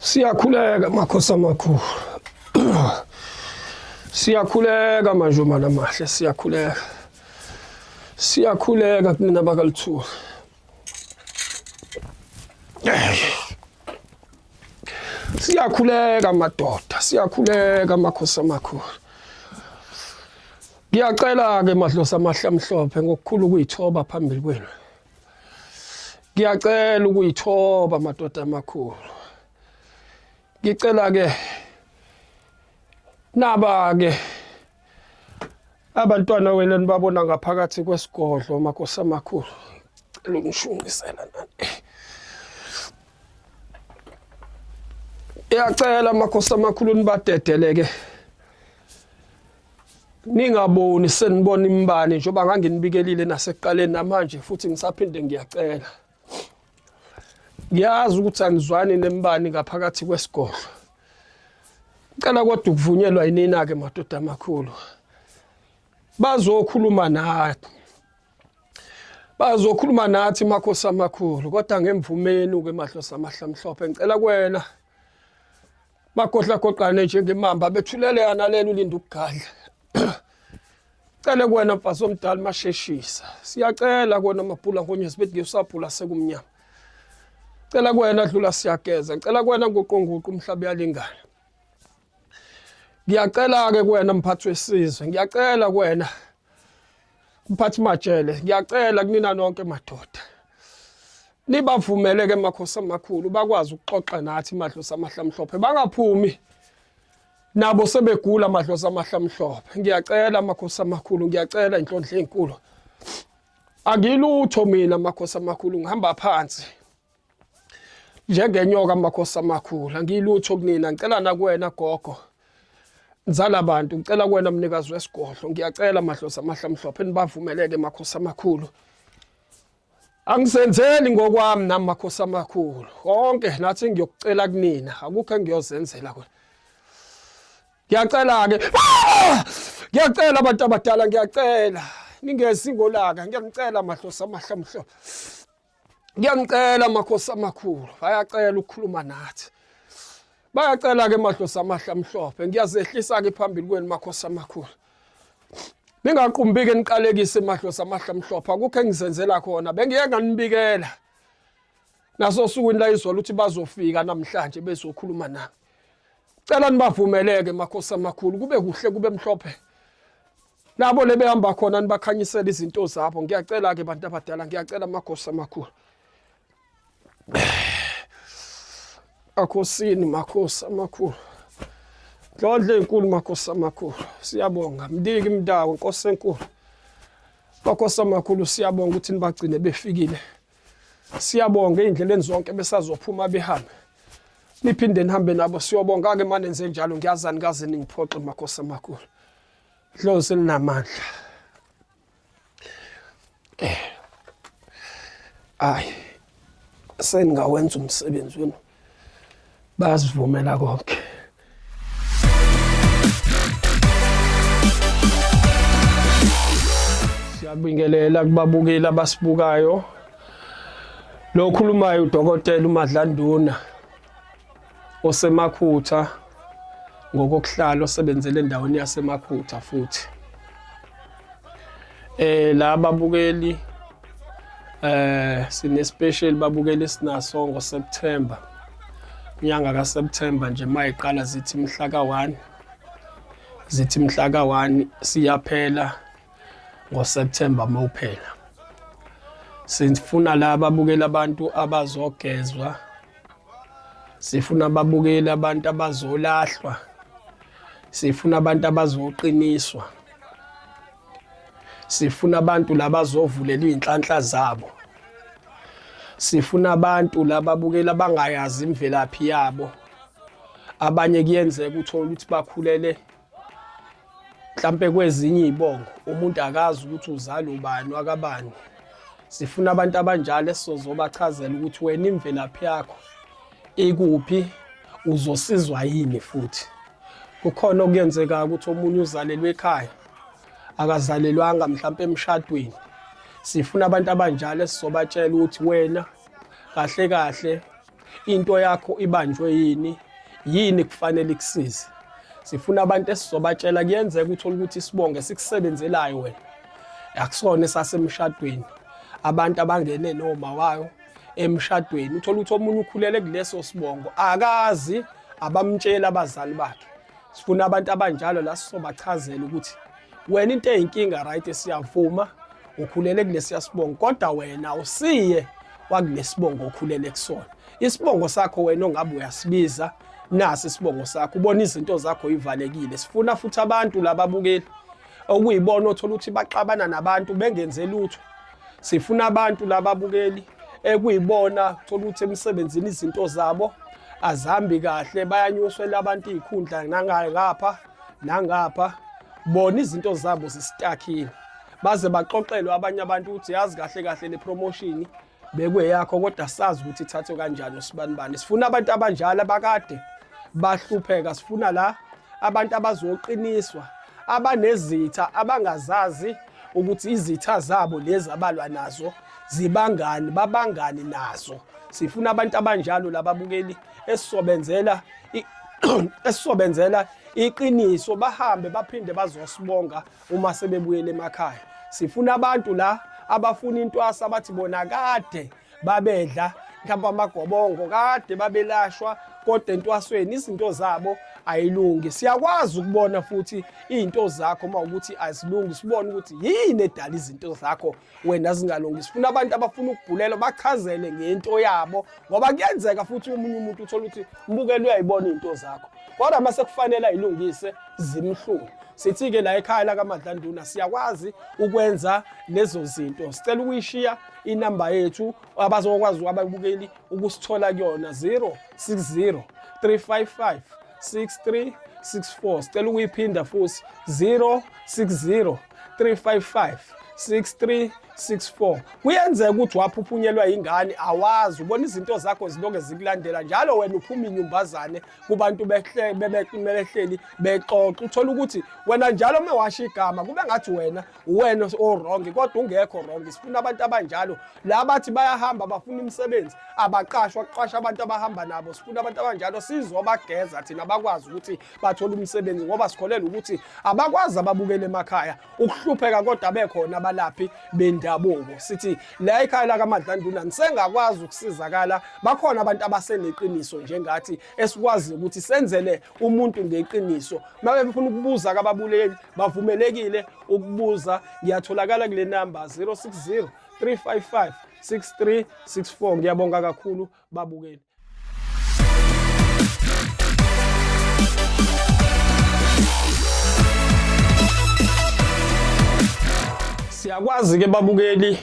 Siyakhuleka makhosi amakhulu. Siyakhuleka manje uma namahle siyakhuleka. Siyakhuleka kunina bakaluthuli. Siyakhuleka madoda, siyakhuleka makhosi amakhulu. Ngiyacela-ke madlosa amahle amhlophe ngokukhulu ukuyithoba phambili kwenu. Ngiyacela ukuyithoba madoda amakhulu. Ngicela-ke naba-ke abantwana wenu enibabona ngaphakathi kwesigodlo makhosi amakhulu. Ngicela ukunishunqisela nani. Ngiyacela makhosi amakhulu nibadedeleke. ningaboni senibona imbane njengoba nganginibikelile nasekuqaleni namanje futhi ngisaphinde ngiyacela ngiyazi ukuthi anizwani nembani ngaphakathi kwesigodlo ngicela kodwa ukuvunyelwa yinina-ke madoda amakhulu bazokhuluma nathi bazokhuluma nathi makhosi amakhulu kodwa ngemvumeni-ke mahlosi amahlamhlophe ngicela kwena Bagohlagoqane njengemamba bethuleleka nalena ulinda ukugadla. Cele kuwena mfazi omdala masheshisa. Siyacela kona mabhula ngonyezi bethi ngisabhula sekumnyama. Cela kuwena dlula siyageza. Cela kuwena nguqonguqu umhlaba yalingana. Ngiyacela ke kuwena mphathi wesizwe. Ngiyacela kuwena Mphathi Majele, ngiyacela kunina nonke madoda. Nibavumele ke makhosi amakhulu bakwazi ukuxoxa nathi madlosa amahlamhlophe bangaphumi nabo sebegula madlosa amahlamhlophe. Ngiyacela makhosi amakhulu, ngiyacela inhlondle enkulu. Angilutho mina makhosi amakhulu ngihamba phansi. njengenyoka amakhosi amakhulu angiyilutho kunina ngicela nakuwena gogo nzala bantu ngicela kuwena mnikazi wesigodlo ngiyacela madlozi amahle amhlophe nibavumeleke makhosi amakhulu angisenzeli ngokwami nami makhosi amakhulu konke nathi ngiyokucela kunina akukho engiyozenzela kona ngiyacela-ke ah! ngiyacela abantu abadala ngiyacela ningezi ngolaka ngiyanicela madlozi amahle amhlophe Ngiyamcela makhosi amakhulu, bayacela ukukhuluma nathi. Bayacela ke madlozi amahle amhlophe, ngiyazehlisa ke phambili kwenu makhosi amakhulu. Ningaqumbike niqalekise madlozi amahle amhlophe, akukho engizenzela khona, bengiye nganibikela. Naso sukwini la izolo uthi bazofika namhlanje bezokhuluma nami. Cela nibavumeleke makhosi amakhulu, kube kuhle kube mhlophe. nabo lebehamba khona nibakhanyisela izinto zabo ngiyacela-ke bantu abadala ngiyacela amagosi amakhulu akhosini makhosi amakhulu ndlondla enkulu makhosi amakhulu siyabonga mndiki mndawo nkosi enkulu makhosi amakhulu siyabonga ukuthi nibagcine befikile siyabonga ey'ndleleni zonke besazophuma behambe niphinde nihambe nabo siyobonga-ke manenze njalo ngiyazani kaze ningiphoxe makhosi amakhulu Dlozi elinamandla. Eh. Ay. Sengawenza umsebenzi wenu. Basivumela konke. Siyabingelela kubabukeli abasibukayo. Lo khulumayo udokotela uMadlanduna. osemakhutha ngokokuhlala osebenzele endaweni yasemakhutha futhi eh la babukeli eh sine special babukeli sinaso ngo September inyanga ka September nje mayiqala zithi mhla ka 1 zithi mhla ka 1 siyaphela ngo September mawuphela sifuna la babukeli abantu abazogezwa sifuna ababukeli abantu abazolahlwa sifuna abantu abazoqiniswa sifuna abantu labazovulelwa inhlanhla zabo sifuna abantu lababukela bangayazi imvelaphi yabo abanye kuyenzeka uthola ukuthi bakhulele mhlampe kwezinye iy'bongo umuntu akazi ukuthi uzalwa ubani wakabani sifuna abantu abanjalo esizobachazela ukuthi wena imvelaphi yakho ikuphi uzosizwa yini futhi kukhona okuyenzeka ukuthi omunye uzalelwe ekhaya akazalelwanga mhlampe emshadweni sifuna abantu abanjalo esizobatshela ukuthi wena kahle kahle into yakho ibanjwe yini yini kufanele ikusize sifuna abantu esizobatshela kuyenzeka uthole ukuthi isibonge sikusebenzelayo wena akusona esasemshadweni abantu abangene noma wayo emshadweni uthole ukuthi omunye ukhulele kuleso sibongo akazi abamtshela abazali bakhe sifuna abantu abanjalo la sisobachazela ukuthi wena into eyinkinga right siyavuma ukhulele kulesiya sibongo kodwa wena usiye wakulesibongo okhulele kusona isibongo sakho wena ongabe uyasibiza nasi isibongo sakho ubona izinto zakho ivalekile sifuna futhi abantu lababukeli okuyibona othola ukuthi baxabana nabantu bengenze lutho sifuna abantu lababukeli ekuyibona thola ukuthi emsebenzini izinto zabo azihambi kahle bayanyuswela abantu iy'khundla nangapha nangapha bona izinto zabo zisitakile baze baxoxelwe abanye abantu ukuthi yazi kahle kahle le promotion bekweyakho kodwa sazi ukuthi ithathwe kanjani usibanibani sifuna abantu abanjalo abakade bahlupheka sifuna la abantu abazoqiniswa abanezitha abangazazi ukuthi izitha zabo lezi abalwa nazo zibangani babangani nazo sifuna abantu abanjalo lababukeli esisobenzela esisobenzela iqiniso bahambe baphinde bazosibonga uma sebebuyele emakhaya sifuna abantu la abafuna intwasa abathi bona kade babedla mhlawumbe amagobongo kade babelashwa kodwa entwasweni izinto zabo ayilungi siyakwazi ukubona futhi izinto zakho uma ukuthi azilungi sibone ukuthi yini edala izinto zakho wena zingalungi sifuna abantu abafuna ukubhulelwa bachazele ngento yabo ngoba kuyenzeka futhi umunye umuntu uthola ukuthi mbukela uyayibona into zakho kodwa uma sekufanele ayilungise zimhlungu sithi-ke la ekhaya lakamadlanduna siyakwazi ukwenza lezo zinto sicela ukuyishiya inamba yethu abazokwazi ababukeli ukusithola kuyona 060 355 6364 sicela ukuyiphinda futhi 060 355 6364 kuyenzeka ukuthi waphuphunyelwa yingane awazi ubona izinto zakho ziloke zikulandela njalo wena uphuma inyumbazane kubantu bebehleli bexoxa uthola ukuthi wena njalo uma washo igama kube ngathi wena uwena owrong kodwa ungekho wrong sifuna abantu abanjalo la bathi bayahamba bafuna imisebenzi abaqashwa kuqasha abantu abahamba nabo sifuna abantu abanjalo sizobageza thina bakwazi ukuthi bathole umsebenzi ngoba sikholelwa ukuthi abakwazi ababukele emakhaya ukuhlupheka kodwa bekhona abalaphi bendabuko sithi la ikhaya lakamadlanduna nisengakwazi ukusizakala bakhona abantu abaseneqiniso njengathi esikwazi ukuthi senzele umuntu ngeqiniso mabe befuna ukubuza kababuleli bavumelekile ukubuza ngiyatholakala kule number 060 355 6364 ngiyabonga kakhulu babukeli Siyakwazi ke babukeli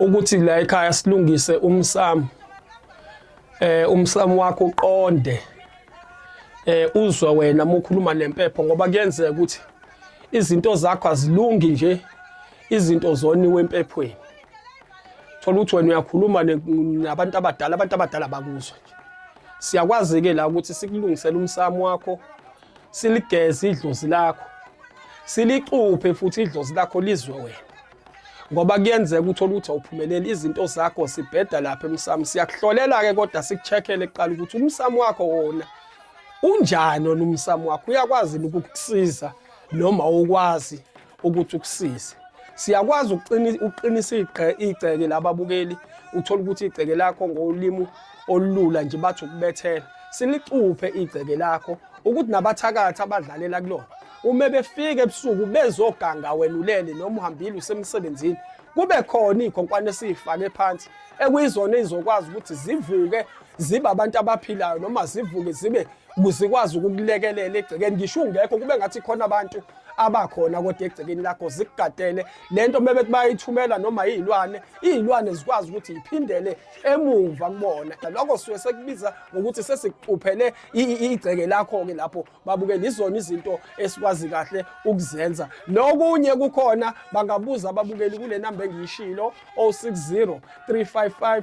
ukuthi la ekhaya silungise umsamo eh umsamo wakho uqonde eh uzwa wena mukhuluma nempepho ngoba kuyenzeka ukuthi izinto zakho azilungi nje izinto zoniwe empephweni thola ukuthi wena uyakhuluma nabantu abadala abantu abadala bakuzwa nje siyakwazi-ke la ukuthi sikulungisele umsamo wakho siligeze idlozi lakho silicuphe futhi idlozi lakho lizwe wena ngoba kuyenzeka uthole ukuthi awuphumeleli izinto zakho sibheda lapha emsamo siyakuhlolela-ke kodwa sikuchekhele kuqala ukuthi umsamo wakho wona unjani wona umsamo wakho uyakwazi ukukusiza noma ukwazi ukuthi ukusize siyakwazi ukuqinisa igceke lababukeli uthole ukuthi igceke lakho ngolimi olulula nje bathi ukubethela silicuphe igceke lakho ukuthi nabathakathi abadlalela kulona uma befika ebusuku bezoganga wena ulele noma uhambile usemsebenzini kube khona iy'khonkwane esiyifake phansi ekuyizona ey'zokwazi ukuthi zivuke zibe abantu abaphilayo noma zivuke zibe zikwazi ukukulekelela egcekeni ngisho ungekho kube ngathi khona abantu abakhona kodwa egcekeni lakho zikugadele lento bebe bayithumela noma izilwane izilwane zikwazi ukuthi iphindele emuva kubona lokho suke sekubiza ngokuthi sesikuxuphele igceke lakho ke lapho babuke lizona izinto esikwazi kahle ukuzenza nokunye kukhona bangabuza ababukeli kule namba engiyishilo 060 355